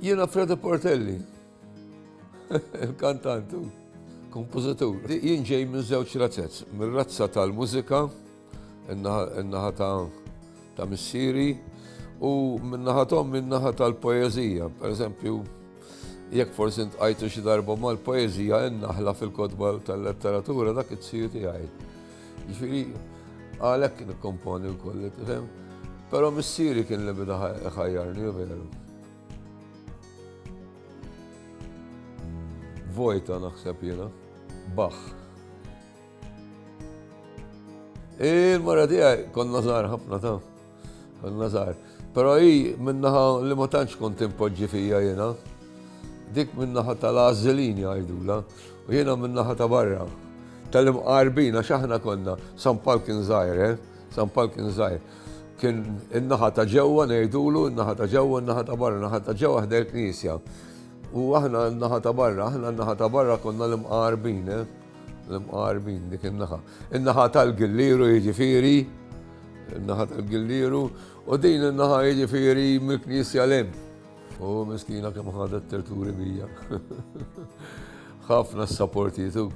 Jiena Freda Portelli, il-kantant u kompożitur. Jien ġej minn żewġ razzezz, mir-razza tal-mużika, in-naħa ta' missieri, u min-naħa tom min-naħa tal-poeżija. Per eżempju, jekk forsi ntqajtu xi darba mal-poeżija in-naħla fil-kotba tal-letteratura dak it-siju tiegħi. Ġifieri għalhekk nikkomponi wkoll, tifhem? Però missieri kien li bida ħajjarni veru. Vojta naħseb jiena, baħ. Il-mara tiegħi konna żgħar ħafna ta' Konna żgħar. Però hi minnaħa li ma tantx kont impoġġi fija jiena. Dik minnaħa tal-għażilin jgħidula u jiena minnaħa ta' barra. Tal-imqarbin għax aħna konna San Pal kien żgħir, eh? San Pal kien żgħir. Kien in-naħa ta' ġewwa ngħidulu, in-naħa ta' ġewwa, in-naħa ta' barra, in-naħa ta' ġewwa ħdej knisja. U aħna n-naħa ta' barra, aħna n-naħa ta' barra konna l-imqarbin, eh? L-imqarbin dik in-naħa. In-naħa tal-Gillieru jiġifieri, in-naħa tal-Gillieru, u din in-naħa jiġifieri mill-Knisja 'l hemm. U miskina kemm ħadet terturi bija. Ħafna s-saportitu.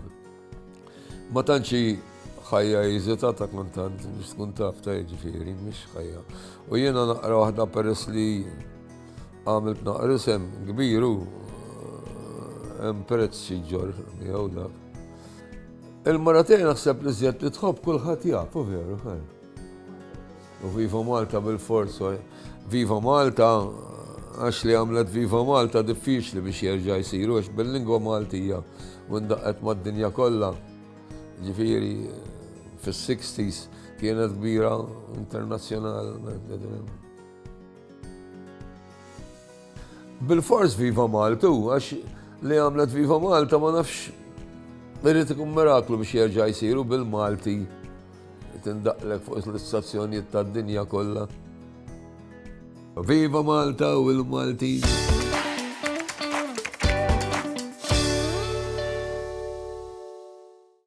Ma tantxi ħajja jiżita ta' kontant biex tkun taf ta' jiġifieri, mhix ħajja. U jiena naqra waħda peress li għamilt naqrisem kbiru, hemm prezz xi ġor miegħu dak. Il-mara tiegħi naħseb li żjed li tħobb kulħadd jaf, u veru fil. U Viva Malta bil-fors, Viva Malta għax li għamlet Viva Malta diffiċli biex jerġa' jsiru għax bil-lingwa Maltija u ndaqqet mad-dinja kollha. Ġifieri fis-60s kienet kbira internazzjonalment. Bilfors Viva Malta u għax li għamlet Viva Malta ma nafx irrid ikun miraklu biex jerġa' jsir u bil-Malti tindaqlek fuq l-istazzjonijiet tad-dinja kollha. Viva Malta u l-Maltin!